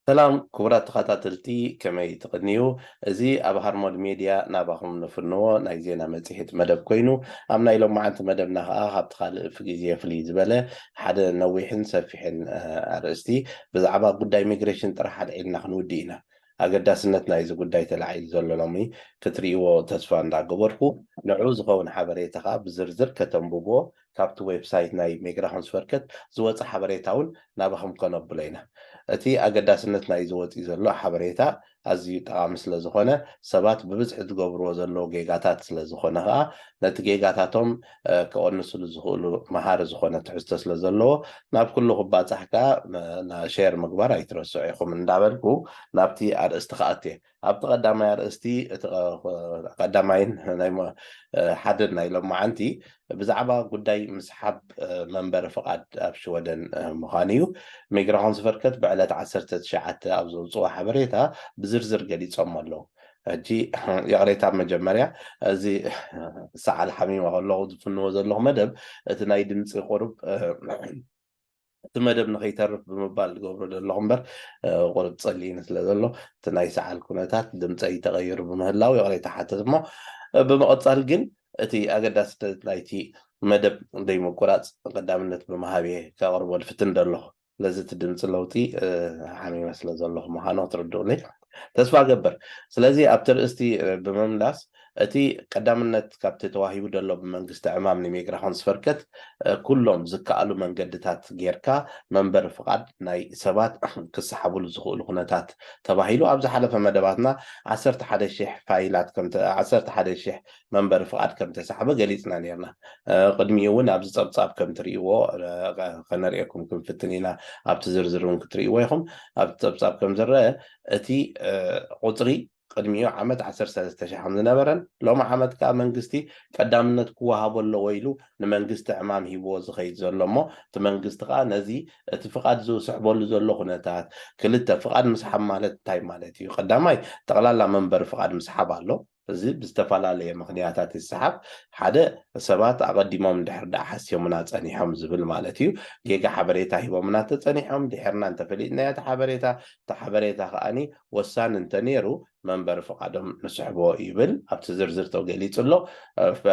ሰላም ክቡራት ተኸታተልቲ ከመይ ትቕንዩ እዚ ኣብ ሃርሞድ ሜድያ ናባኹም ንፍንዎ ናይ ዜና መፅሄት መደብ ኮይኑ ኣብ ናይ ሎማዓንቲ መደብና ከዓ ካብቲ ካልእ ፍግዜ ፍልይ ዝበለ ሓደ ነዊሕን ሰፊሕን ኣርእስቲ ብዛዕባ ጉዳይ ሚግሬሽን ጥራሕ ኣልዒልና ክንውድእ ኢና ኣገዳስነት ናይዚ ጉዳይ ተላዒሉ ዘሎ ሎሚ ክትሪእዎ ተስፋ እንዳገበርኩ ንዑኡ ዝኸውን ሓበሬታ ከኣ ብዝርዝር ከተንብብዎ ካብቲ ዌብሳይት ናይ Migrationsverket ዝወጸ ሓበሬታ ውን ናባኹም ከነብሎ ኢና። እቲ ኣገዳስነት ናይዚ ወጺኡ ዘሎ ሓበሬታ ኣዚዩ ጠቓሚ ስለ ዝኾነ ሰባት ብብዝሒ ዝገብርዎ ዘለዉ ጌጋታት ስለ ዝኾነ ከኣ ነቲ ጌጋታቶም ክቕንስሉ ዝኽእሉ መሃሪ ዝኾነ ትሕዝቶ ስለ ዘለዎ ናብ ኩሉ ክባጻሕ ከኣ ሼር ምግባር ኣይትረስዑ ኢኹም እንዳበልኩ ናብቲ ኣርእስቲ ክኣቱ እየ። ኣብቲ ቀዳማይ ኣርእስቲ እቲ ቀዳማይን ናይ ሓደን ናይ ሎማዓንቲ ብዛዕባ ጉዳይ ምስሓብ መንበሪ ፍቓድ ኣብ ሽወደን ምዃኑ እዩ። ሚግራሆንስቨርከት ብዕለት ዓሰርተ ትሽዓተ ኣብ ዘውጽዎ ሓበሬታ ብዝርዝር ገሊጾሞ ኣለዉ። ሕጂ ይቕሬታ ብ መጀመርያ እዚ ሰዓል ሓሚሞ ከለኹ ዝፍንዎ ዘለኹ መደብ እቲ ናይ ድምጺ ቁሩብ እቲ መደብ ንኸይተርፍ ብምባል ዝገብሮ ዘለኹ እምበር ቁሩብ ጸሊኢኒ ስለ ዘሎ እቲ ናይ ሰዓል ኩነታት ድምጸይ ተቐይሩ ብምህላው ይቕሬታ ሓትት እሞ ብምቕጻል ግን እቲ ኣገዳስነት ናይቲ መደብ ዘይምቁራጽ ቀዳምነት ብምሃብ እየ ከቕርቦ ዝፍትን ዘለኹ ስለዚ እቲ ድምፂ ለውጢ ሓሚመ ስለ ዘለኹ ምዃኑ ክትርድኡኒ ተስፋ እገብር ስለዚ ኣብቲ ርእስቲ ብምምላስ እቲ ቀዳምነት ካብቲ ተዋሂቡ ዘሎ ብመንግስቲ ዕማም ንሜግራኾን ዝፈርከት ኩሎም ዝከኣሉ መንገድታት ጌርካ መንበሪ ፍቓድ ናይ ሰባት ክሰሓብሉ ዝኽእሉ ኩነታት ተባሂሉ ኣብ ዝሓለፈ መደባትና ዓሰርተ ሓደ ሽሕ ፋይላት ዓሰርተ ሓደ ሽሕ መንበሪ ፍቓድ ከም እተሳሕበ ገሊጽና ነይርና። ቅድሚኡ እውን ኣብዚ ጸብጻብ ከም እትርእይዎ ከነርእየኩም ክንፍትን ኢና፣ ኣብቲ ዝርዝር እውን ክትርእይዎ ኢኹም። ኣብቲ ጸብጻብ ከም ዝረኣ እቲ ቁጽሪ ቅድሚኡ ዓመት ዓሰርተ ሰለስተ ሽሕ ከም ዝነበረን ሎሚ ዓመት ከኣ መንግስቲ ቀዳምነት ክወሃቦ ኣለዎ ኢሉ ንመንግስቲ ዕማም ሂብዎ ዝኸይድ ዘሎ እሞ እቲ መንግስቲ ከኣ ነዚ እቲ ፍቓድ ዝስሕበሉ ዘሎ ኩነታት ክልተ ፍቓድ ምስሓብ ማለት እንታይ ማለት እዩ? ቀዳማይ ጠቕላላ መንበሪ ፍቓድ ምስሓብ ኣሎ። እዚ ብዝተፈላለየ ምኽንያታት ይሰሓብ። ሓደ፣ ሰባት ኣቐዲሞም እንድሕር ደኣ ሓስዮምና ጸኒሖም ዝብል ማለት እዩ። ጌጋ ሓበሬታ ሂቦምና እንተጸኒሖም፣ ድሒርና እንተፈሊጥናዮ እቲ ሓበሬታ፣ እቲ ሓበሬታ ከኣኒ ወሳኒ እንተነይሩ፣ መንበሪ ፍቓዶም ንስሕቦ ይብል ኣብቲ ዝርዝር ተገሊጹ ኣሎ። እቲ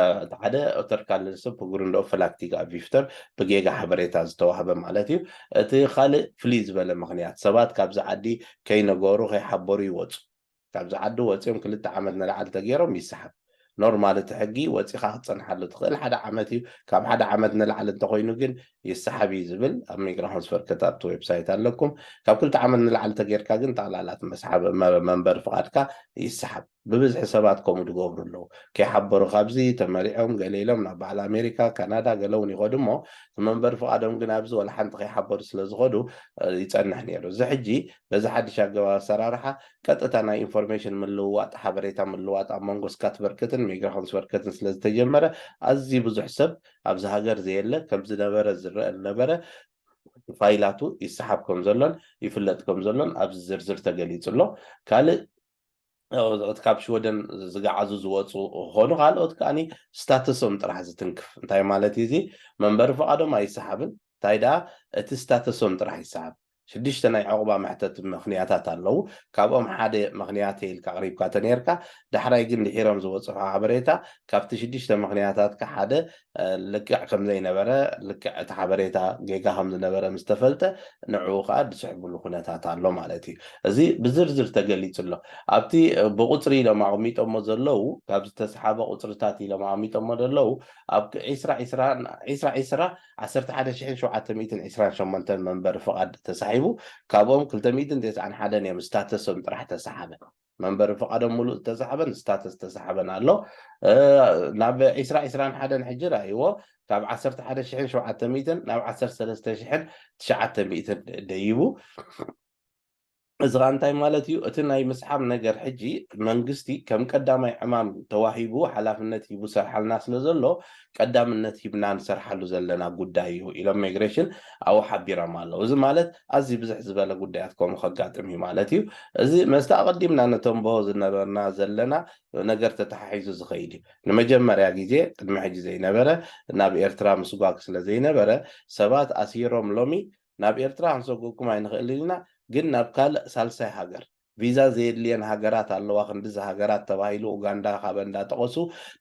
ሓደ፣ Återkallelse på grund av felaktiga uppgifter፣ ብጌጋ ሓበሬታ ዝተዋህበ ማለት እዩ። እቲ ካልእ ፍልይ ዝበለ ምኽንያት፣ ሰባት ካብዚ ዓዲ ከይነገሩ፣ ከይሓበሩ ይወጹ። ካብዚ ዓዲ ወጽዮም ክልተ ዓመት ንላዕሊ ተጌሮም ይሰሓብ ኖርማል እቲ ሕጊ ወጺኻ ክትጸንሓሉ ትኽእል ሓደ ዓመት እዩ ካብ ሓደ ዓመት ንላዕሊ እንተኾይኑ ግን ይሰሓብ እዩ ዝብል ኣብ ሚግራሆንስቨርከት ኣብቲ ዌብሳይት ኣለኩም ካብ ክልተ ዓመት ንላዕሊ ተጌርካ ግን ጠቕላላት መስሓብ መንበሪ ፍቓድካ ይሰሓብ ብብዝሒ ሰባት ከምኡ ዝገብሩ ኣለዉ ከይሓበሩ ካብዚ ተመሪዖም ገለ ኢሎም ናብ በዓል ኣሜሪካ ካናዳ ገለ እውን ይኸዱ እሞ እቲ መንበሪ ፍቓዶም ግን ኣብዚ ወላ ሓንቲ ከይሓበሩ ስለ ዝኸዱ ይፀንሕ ነይሩ እዚ ሕጂ በዚ ሓድሽ ኣገባብ ኣሰራርሓ ቀጥታ ናይ ኢንፎርሜሽን ምልውዋጥ፣ ሓበሬታ ምልዋጥ፣ ኣብ መንጎ ስካትቨርከትን ሚግራሾንስቨርከትን ስለ ዝተጀመረ፣ ኣዝዩ ብዙሕ ሰብ ኣብዚ ሃገር ዘየለ ከም ዝነበረ ዝረኣ ዝነበረ ፋይላቱ ይሰሓብ ከም ዘሎን ይፍለጥ ከም ዘሎን ኣብዚ ዝርዝር ተገሊጹ ኣሎ። ካልእ እቲ ካብ ሽወደን ዝገዓዙ ዝወጹ ክኾኑ ካልኦት ከኣ ስታተሶም ጥራሕ ዝትንክፍ እንታይ ማለት እዩ እዚ መንበሪ ፍቓዶም ኣይሰሓብን እንታይ ደኣ እቲ ስታተሶም ጥራሕ ይሰሓብ ሽዱሽተ ናይ ዑቕባ መሕተቲ ምኽንያታት ኣለዉ። ካብኦም ሓደ ምኽንያተይ ኢልካ ኣቕሪብካ ተነይርካ፣ ዳሕራይ ግን ድሒሮም ዝበጽሑ ሓበሬታ ካብቲ ሽዱሽተ ምኽንያታትካ ሓደ ልክዕ ከም ዘይነበረ፣ ልክዕ እቲ ሓበሬታ ጌጋ ከም ዝነበረ ምስ ተፈልጠ ንዕኡ ከኣ ድስሕብሉ ኩነታት ኣሎ ማለት እዩ። እዚ ብዝርዝር ተገሊጹ ኣሎ። ኣብቲ ብቑጽሪ ኢሎም ኣቕሚጦሞ ዘለዉ ካብ ዝተስሓበ ቁጽርታት ኢሎም ኣቕሚጦሞ ደለዉ ኣብ ዕስራ ዕስራ ዕስራ ዕስራ ዓሰርተ ሓደ ሽሕን ሸውዓተ ሚእትን ዕስራን ሸሞንተን መንበሪ ፍቓድ ተሳሒቡ፣ ካብኦም ክልተ ሚእትን ተስዓን ሓደን እዮም ስታተሶም ጥራሕ ተሰሓበ። መንበሪ ፍቓዶም ምሉእ ዝተሰሓበን ስታተስ ዝተሰሓበን ኣሎ። ናብ ዕስራ ዕስራን ሓደን ሕጂ ርኣይዎ፣ ካብ ዓሰርተ ሓደ ሽሕን ሸውዓተ ሚእትን ናብ ዓሰርተ ሰለስተ ሽሕን ትሽዓተ ሚእትን ደይቡ። እዚ ከኣ እንታይ ማለት እዩ እቲ ናይ ምስሓብ ነገር ሕጂ መንግስቲ ከም ቀዳማይ ዕማም ተዋሂቡ ሓላፍነት ሂቡ ዝሰርሓልና ስለ ዘሎ ቀዳምነት ሂብና ንሰርሓሉ ዘለና ጉዳይ እዩ ኢሎም ሚግሬሽን ኣብኡ ሓቢሮም ኣለው። እዚ ማለት ኣዝዩ ብዝሕ ዝበለ ጉዳያት ከምኡ ከጋጥም እዩ ማለት እዩ። እዚ መስቲ ኣቐዲምና ነተንብሆ ዝነበርና ዘለና ነገር ተተሓሒዙ ዝኸይድ እዩ። ንመጀመርያ ግዜ ቅድሚ ሕጂ ዘይነበረ ናብ ኤርትራ ምስጓግ ስለ ዘይነበረ ሰባት ኣሲሮም ሎሚ ናብ ኤርትራ ክንሰጉእኩም ኣይንኽእልን ኢና ግን ናብ ካልእ ሳልሳይ ሃገር ቪዛ ዘየድልየን ሃገራት ኣለዋ ክንድዚ ሃገራት ተባሂሉ ኡጋንዳ ካበን ዳጠቐሱ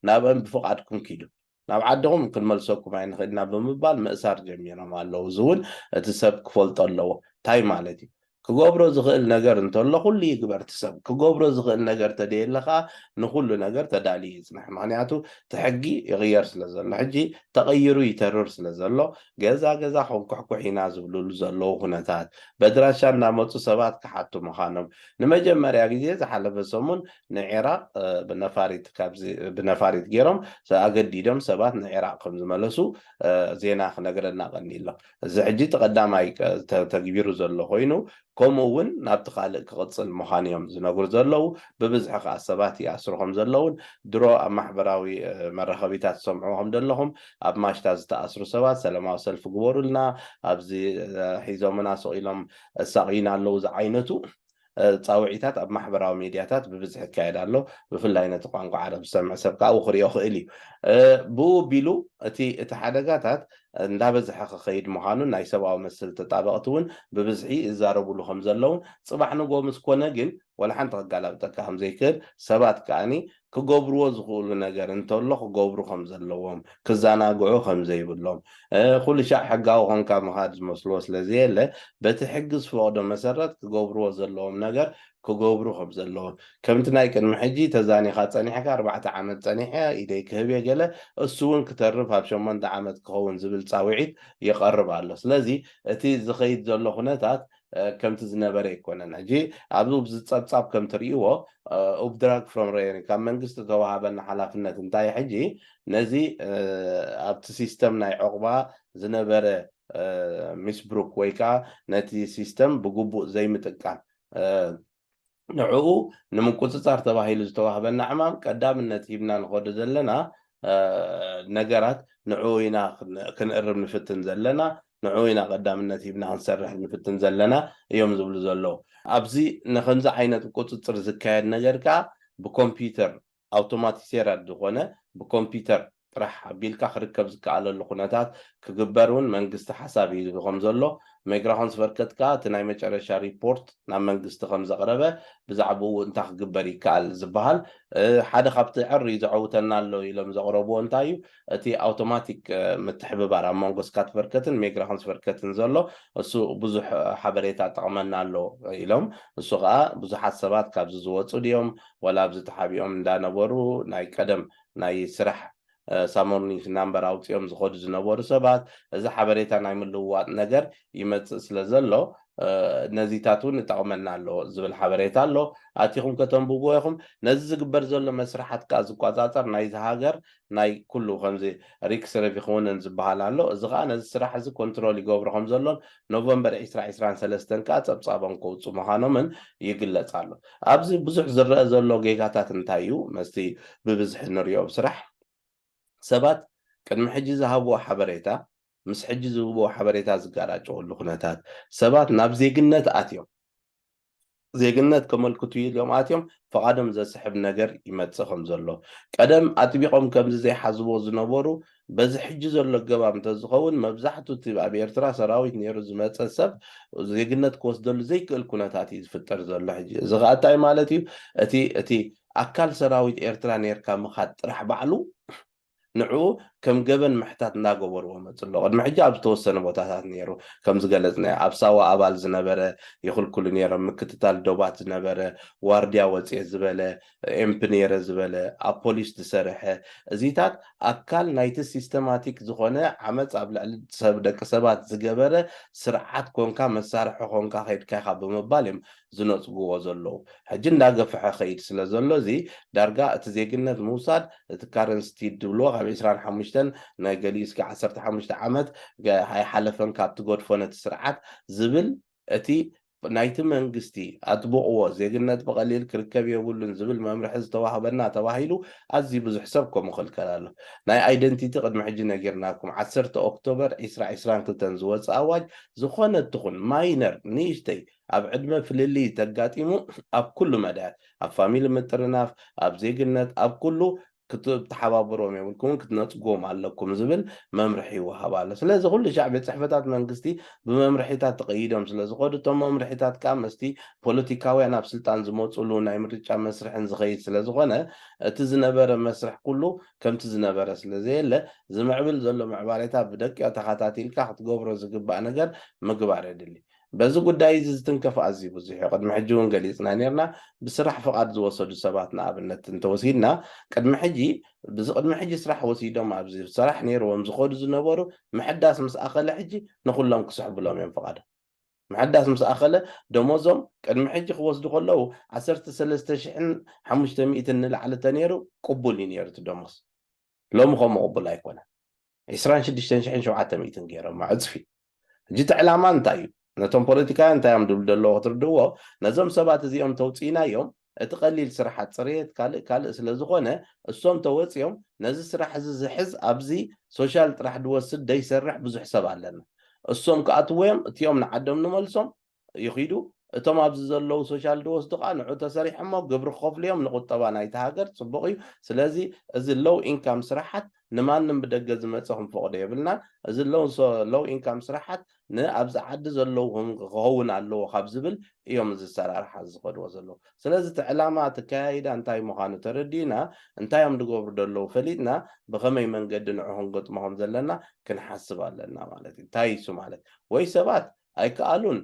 ናብእን ብፍቓድኩም ኪዱ ናብ ዓድኹም ክንመልሰኩም ኣይንኽእል ኢና ብምባል ምእሳር ጀሚሮም ኣለዉ እዚ ውን እቲ ሰብ ክፈልጦ ኣለዎ ታይ ማለት እዩ ክገብሮ ዝኽእል ነገር እንተሎ ኩሉ ይግበር እቲ ሰብ ክገብሮ ዝኽእል ነገር ተደየለ ከኣ ንኹሉ ነገር ተዳልዩ ይጽናሕ ምኽንያቱ እቲ ሕጊ ይቕየር ስለ ዘሎ ሕጂ ተቐይሩ ይተርር ስለ ዘሎ ገዛ ገዛ ክንኩሕኩሕ ኢና ዝብልሉ ዘለዉ ኩነታት፣ በድራሻ እናመጹ ሰባት ክሓቱ ምዃኖም፣ ንመጀመርያ ግዜ ዝሓለፈ ሰሙን ንዒራቕ ብነፋሪት ካብዚ ብነፋሪት ጌሮም ኣገዲዶም ሰባት ንዒራቕ ከም ዝመለሱ ዜና ክነግረና ቀኒዩ ኣሎ። እዚ ሕጂ እቲ ቀዳማይ ተተግቢሩ ዘሎ ኮይኑ ከምኡ እውን ናብቲ ካልእ ክቕጽል ምዃኑ እዮም ዝነግሩ ዘለዉ። ብብዝሒ ከኣ ሰባት ይኣስሩ ከም ዘለዉን ድሮ ኣብ ማሕበራዊ መራኸቢታት ትሰምዕዎ ከም ዘለኹም ኣብ ማሽታ ዝተኣስሩ ሰባት ሰለማዊ ሰልፊ ግበሩልና ኣብዚ ሒዞምና ስቕ ኢሎም ኣሳቕዩና ኣለዉ ዝዓይነቱ ጻውዒታት ኣብ ማሕበራዊ ሚድያታት ብብዝሒ ይካየድ ኣሎ። ብፍላይ ነቲ ቋንቋ ዓረብ ዝሰምዕ ሰብ ከኣ ክርእዮ ይኽእል እዩ። ብኡ ኣቢሉ እቲ እቲ ሓደጋታት እንዳበዝሐ ክኸይድ ምዃኑን ናይ ሰብኣዊ መሰል ተጣበቕቲ እውን ብብዝሒ ይዛረቡሉ ከምዘለውን ፅባሕ ንግሆ ምስ ኮነ ግን ዋላ ሓንቲ ከጋላብጠካ ከምዘይክእል ሰባት ከኣ ክገብርዎ ዝኽእሉ ነገር እንተሎ ክገብሩ ከምዘለዎም ክዘናግዑ ከምዘይብሎም ኩሉሻዕ ሕጋዊ ኮንካ ምኻድ ዝመስልዎ ስለዘየለ በቲ ሕጊ ዝፈቕዶ መሰረት ክገብርዎ ዘለዎም ነገር ክገብሩ ከምዘለዎም ከምቲ ናይ ቅድሚ ሕጂ ተዛኒኻ ጸኒሕካ ኣርባዕተ ዓመት ጸኒሐ ኢደይ ክህብየ ገለ እሱውን ክተርፍ ኣብ ሸሞንተ ዓመት ክኸውን ዝብል ጻዊዒት ይቐርብ ኣሎ ስለዚ እቲ ዝኸይድ ዘሎ ኩነታት ከምቲ ዝነበረ ኣይኮነን ሕጂ ኣብዚ ኣብዚ ጸብጻብ ከም ትርእይዎ ኡብድራግ ፍሮም ረዮኒ ካብ መንግስቲ ዝተዋሃበና ሓላፍነት እንታይ ሕጂ ነዚ ኣብቲ ሲስተም ናይ ዑቕባ ዝነበረ ሚስብሩክ ወይ ከኣ ነቲ ሲስተም ብግቡእ ዘይምጥቃም ንዕኡ ንምቁፅፃር ተባሂሉ ዝተዋህበና ዕማም ቀዳምነት ሂብና ንኸዶ ዘለና ነገራት ንዕኡ ኢና ክንእርም ንፍትን ዘለና፣ ንዕኡ ኢና ቀዳምነት ሂብና ክንሰርሕ ንፍትን ዘለና እዮም ዝብሉ ዘለዉ። ኣብዚ ንኸምዚ ዓይነት ቁፅፅር ዝካየድ ነገር ከዓ ብኮምፒዩተር ኣውቶማቲሴረድ ዝኾነ ብኮምፒተር ጥራሕ ኣቢልካ ክርከብ ዝከኣለሉ ኩነታት ክግበር እውን መንግስቲ ሓሳብ ሂዙ ከምዘሎ ሜግራሆንስቨርከት ከኣ እቲ ናይ መጨረሻ ሪፖርት ናብ መንግስቲ ከምዘቕረበ ብዛዕብኡ እንታይ ክግበር ይከኣል ዝበሃል ሓደ ካብቲ ዕርይ ዘዐውተና ኣሎ ኢሎም ዘቕረብዎ እንታይ እዩ እቲ ኣውቶማቲክ ምትሕብባር ኣብ መንጎ ስካትቨርከትን ሚግራሆንስቨርከትን ዘሎ እሱ ብዙሕ ሓበሬታ ኣጠቕመና ኣሎ ኢሎም እሱ ኸኣ ብዙሓት ሰባት ካብዚ ዝወጹ ድዮም ወላ ኣብዚ ተሓቢኦም እንዳነበሩ ናይ ቀደም ናይ ስራሕ ሳሞርኒክ ናምበር ኣውጺኦም ዝኸዱ ዝነበሩ ሰባት እዚ ሓበሬታ ናይ ምልውዋጥ ነገር ይመጽእ ስለ ዘሎ ነዚታት እውን እጠቕመና ኣሎ ዝብል ሓበሬታ ኣሎ ኣቲኹም ከተንብብዎ ኢኹም ነዚ ዝግበር ዘሎ መስርሓት ከኣ ዝቋጻጸር ናይዚ ሃገር ናይ ኩሉ ከምዚ ሪክስ ረቪክውንን ዝበሃል ኣሎ እዚ ከኣ ነዚ ስራሕ እዚ ኮንትሮል ይገብሮ ከም ዘሎን ኖቨምበር ዕስራ ዕስራን ሰለስተን ከኣ ጸብጻቦም ከውጽኡ ምኻኖምን ይግለጽ ኣሎ ኣብዚ ብዙሕ ዝረኣ ዘሎ ጌጋታት እንታይ እዩ መስቲ ብብዝሒ ንሪኦ ኣብ ስራሕ ሰባት ቅድሚ ሕጂ ዝሃብዎ ሓበሬታ ምስ ሕጂ ዝህብዎ ሓበሬታ ዝጋራጨወሉ ኩነታት ሰባት ናብ ዜግነት ኣትዮም ዜግነት ከመልክቱ ኢሎም ኣትዮም ፍቓዶም ዘስሕብ ነገር ይመጽእ ከም ዘሎ ቀደም ኣጥቢቖም ከምዚ ዘይሓዝዎ ዝነበሩ በዚ ሕጂ ዘሎ ኣገባብ እንተዝኸውን መብዛሕቱ እቲ ኣብ ኤርትራ ሰራዊት ነይሩ ዝመጸ ሰብ ዜግነት ክወስደሉ ዘይክእል ኩነታት እዩ ዝፍጠር ዘሎ ሕጂ እዚ ከዓ እንታይ ማለት እዩ እቲ እቲ ኣካል ሰራዊት ኤርትራ ነርካ ምኻድ ጥራሕ ባዕሉ ንዕኡ ከም ገበን ምሕታት እናገበርዎ መጹ ኣሎ። ቅድሚ ሕጂ ኣብ ዝተወሰነ ቦታታት ነይሩ ከም ዝገለጽናዮ ኣብ ሳዋ ኣባል ዝነበረ ይኽልክሉ ነይሮም፣ ምክትታል ዶባት ዝነበረ፣ ዋርድያ ወጽየ ዝበለ፣ ኤምፕ ነይረ ዝበለ፣ ኣብ ፖሊስ ዝሰርሐ፣ እዚታት ኣካል ናይቲ ሲስተማቲክ ዝኾነ ዓመጽ ኣብ ልዕሊ ደቂ ሰባት ዝገበረ ስርዓት ኮንካ መሳርሒ ኮንካ ከይድካ ኢኻ ብምባል እዮም ዝነጽጉዎ ዘለዉ። ሕጂ እንዳገፈሐ ኸይድ ስለ ዘሎ እዚ ዳርጋ እቲ ዜግነት ምውሳድ እቲ ካረንስ ቲድ ድብልዎ ካብ ዕስራን ሓሙሽተን ናይ ገሊኡ እስከ ዓሰርተ ሓሙሽተ ዓመት ኣይሓለፈን ካብ ትገድፎ ነቲ ስርዓት ዝብል እቲ ናይቲ መንግስቲ ኣጥብቕዎ ዜግነት ብቐሊል ክርከብ የብሉን ዝብል መምርሒ ዝተዋህበና ተባሂሉ ኣዝዩ ብዙሕ ሰብ ከምኡ ይኽልከል ኣሎ። ናይ ኣይደንቲቲ ቅድሚ ሕጂ ነጊርናኩም ዓሰርተ ኦክቶበር ዕስራ ዕስራን ክልተን ዝወጸ ኣዋጅ ዝኾነት ትኹን ማይነር ንእሽተይ ኣብ ዕድመ ፍልልይ ተጋጢሙ ኣብ ኩሉ መዳያት ኣብ ፋሚሊ ምጥርናፍ ኣብ ዜግነት ኣብ ኩሉ ክትተሓባበርዎም የብልኩምን ክትነጽግዎም ኣለኩም ዝብል መምርሒ ይወሃብ ኣሎ ስለዚ ኩሉ ሻዕ ቤት ጽሕፈታት መንግስቲ ብመምርሒታት ተቐይዶም ስለ ዝኸዱ እቶም መምርሒታት ከኣ ምስቲ ፖለቲካውያን ኣብ ስልጣን ዝመጹሉ ናይ ምርጫ መስርሕን ዝኸይድ ስለ ዝኾነ እቲ ዝነበረ መስርሕ ኩሉ ከምቲ ዝነበረ ስለ ዘየለ ዝምዕብል ዘሎ ምዕባሌታት ብደቂቕ ተኻታቲልካ ክትገብሮ ዝግባእ ነገር ምግባር የድሊ በዚ ጉዳይ እዚ ዝትንከፍ ኣዝዩ ብዙሕ እዩ። ቅድሚ ሕጂ እውን ገሊጽና ኔርና። ብስራሕ ፍቓድ ዝወሰዱ ሰባት ንኣብነት እንተወሲድና ቅድሚ ሕጂ ብዚ ቅድሚ ሕጂ ስራሕ ወሲዶም ኣብዚ ሰራሕ ኔርዎም ዝኸዱ ዝነበሩ ምሕዳስ ምስ ኣኸለ ሕጂ ንኹሎም ክስሕብሎም እዮም ፍቓዶም። ምሕዳስ ምስ ኣኸለ ደሞዞም ቅድሚ ሕጂ ክወስዱ ከለዉ ዓሰርተ ሰለስተ ሽሕን ሓሙሽተ ሚእትን ንላዕሊ ተኔሩ ቅቡል እዩ ኔሩ እቲ ደሞዝ። ሎሚ ከምኡ ቅቡል ኣይኮነን ዕስራን ሽዱሽተን ሽሕን ሸውዓተ ሚእትን ገይሮማ ዕጽፊ ሕጂ እቲ ዕላማ እንታይ እዩ ነቶም ፖለቲካውያን እንታይ እዮም ድብሉ ዘለዎ ክትርድእዎ ነዞም ሰባት እዚኦም ተውጽኢናዮም እቲ ቀሊል ስራሓት ጽርየት ካልእ ካልእ ስለ ዝኾነ እሶም ተወጽዮም ነዚ ስራሕ እዚ ዝሕዝ ኣብዚ ሶሻል ጥራሕ ድወስድ ደይሰርሕ ብዙሕ ሰብ ኣለና እሶም ክኣትዎዮም እቲኦም ንዓዶም ንመልሶም ይኺዱ፣ እቶም ኣብዚ ዘለዉ ሶሻል ድወስዱ ከኣ ንዑ ተሰሪሖሞ ግብሪ ክኸፍሉ እዮም ንቁጠባ ናይቲ ሃገር ጽቡቕ እዩ፣ ስለዚ እዚ ሎው ኢንካም ስራሓት ንማንም ብደገ ዝመጸ ክንፈቕዶ የብልናን፣ እዚ ሎው ኢንካም ስራሓት ን ኣብዚ ዓዲ ዘለዉ ክኸውን ኣለዎ ካብ ዝብል እዮም እዚ ኣሰራርሓ ዝኸድዎ ዘለዉ፣ ስለዚ እቲ ዕላማ እቲ ኣከያይዳ እንታይ ምዃኑ ተረዲእና እንታይ እዮም ዝገብሩ ዘለዉ ፈሊጥና ብኸመይ መንገዲ ንዑ ክንገጥሞ ከም ዘለና ክንሓስብ ኣለና ማለት እዩ፣ እንታይ እዩ እሱ ማለት ወይ ሰባት ኣይከኣሉን።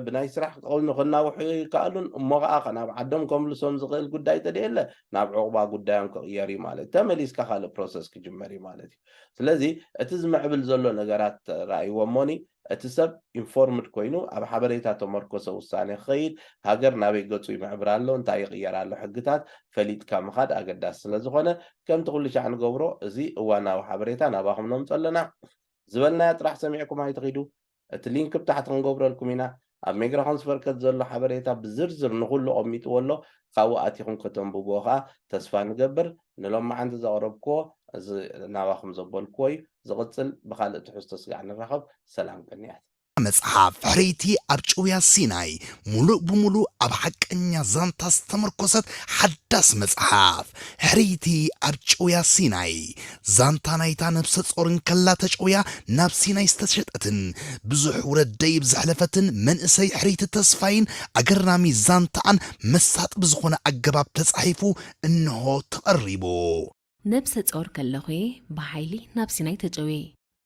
ብናይ ስራሕ ክቐውሚ ክናውሑ ኣይከኣሉን። እሞ ኸኣ ከናብ ዓዶም ከምልሶም ዝኽእል ጉዳይ ተደየለ ናብ ዑቕባ ጉዳዮም ክቕየር እዩ ማለት እዩ። ተመሊስካ ካልእ ፕሮሰስ ክጅመር እዩ ማለት እዩ። ስለዚ እቲ ዝምዕብል ዘሎ ነገራት ተራእይዎ እሞኒ እቲ ሰብ ኢንፎርምድ ኮይኑ ኣብ ሓበሬታ ተመርኮሰ ውሳኔ ክኸይድ ሃገር ናበይ ገጹ ይምዕብር ኣሎ እንታይ ይቕየር ኣሎ ሕግታት ፈሊጥካ ምኻድ ኣገዳሲ ስለ ዝኾነ ከምቲ ኩልሻዕ ንገብሮ እዚ እዋናዊ ሓበሬታ ናባኹም ነምጾ ኣለና ዝበልናያ ጥራሕ ሰሚዕኩም ኣይትኺዱ እቲ ሊንክ ብ ታሕቲ ክንገብረልኩም ኢና ኣብ ሜግራኮንስቨርከት ዘሎ ሓበሬታ ብዝርዝር ንኩሉ ኣቀሚጥዎ ኣሎ ካብኡ ኣቲኩም ከተንብብዎ ከኣ ተስፋ ንገብር ንሎማዓንቲ ዘቅረብክዎ እዚ ናባኩም ዘበልክዎ እዩ ዝቅጽል ብካልእ ትሕዝቶ ስጋዕ ንራከብ ሰላም ቅንያት። እዛ መጽሓፍ ሕርይቲ ኣብ ጭውያ ሲናይ ሙሉእ ብሙሉእ ኣብ ሓቀኛ ዛንታ ዝተመርኮሰት ሓዳስ መጽሓፍ ሕርይቲ ኣብ ጭውያ ሲናይ ዛንታ ናይታ ነብሰጾር እንከላ ተጨውያ ናብ ሲናይ ዝተሸጠትን ብዙሕ ውረድ ደይብ ዘሕለፈትን መንእሰይ ሕርይቲ ተስፋይን ኣገራሚ ዛንታኣን መሳጢ ብዝኾነ ኣገባብ ተጻሒፉ እንሆ ተቐሪቡ። ነብሰጾር ከለኹ'የ ብሓይሊ ናብ ሲናይ ተጨውየ።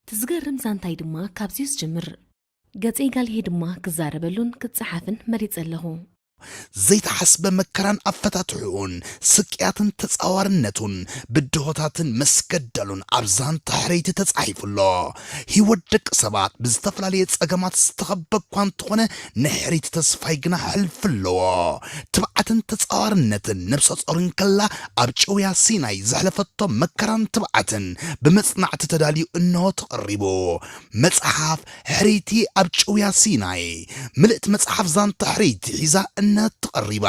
እቲ ዝገርም ዛንታይ ድማ ካብዚ'ዩ ዝጅምር። ገጸይ ጋልየይ ድማ ክዛረበሉን ክጸሓፍን መሪጸ ኣለኹ። ዘይተሓስበ መከራን ኣፈታትሕኡን፣ ስቅያትን ተጻዋርነቱን፣ ብድሆታትን መስገደሉን ኣብ ዛንታ ሕርይቲ ተጻሒፉ ኣሎ። ህይወት ደቂ ሰባት ብዝተፈላለየ ጸገማት ዝተኸበ እኳ እንተኾነ፣ ንሕርይቲ ተስፋይ ግና ሕልፊ ኣለዎ። ትብዓትን ተጻዋርነትን ነብሰ ጾር እንከላ ኣብ ጭውያ ሲናይ ዘሕለፈቶ መከራን ትብዓትን ብመጽናዕቲ ተዳልዩ እነሆ ተቐሪቡ። መጽሓፍ ሕርይቲ ኣብ ጭውያ ሲናይ ምልእቲ መጽሓፍ ዛንታ ሕርይቲ ሒዛ እነትቐሪባ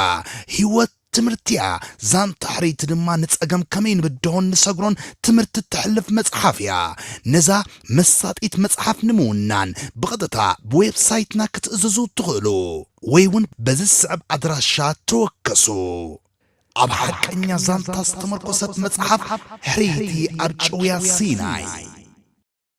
ህይወት ትምህርቲ እያ። ዛንታ ሕርይቲ ድማ ንጸገም ከመይ ንብድሆን ንሰግሮን ትምህርቲ እተሕልፍ መጽሓፍ እያ። ነዛ መሳጢት መጽሓፍ ንምውናን ብቐጥታ ብዌብሳይትና ክትእዝዙ እትኽእሉ ወይ እውን በዚ ዝስዕብ ኣድራሻ ተወከሱ። ኣብ ሓቀኛ ዛንታ ዝተመርኮሰት መጽሓፍ ሕርይቲ ኣብ ጭውያ ሲናይ።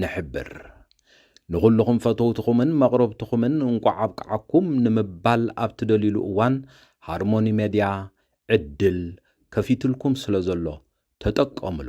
ንሕብር። ንኹሉኹም ፈተውትኹምን መቕረብትኹምን እንቋዕ ኣብቅዓኩም ንምባል ኣብ ትደልዩሉ እዋን ሃርሞኒ ሜድያ ዕድል ከፊትልኩም ስለዘሎ ተጠቀምሉ።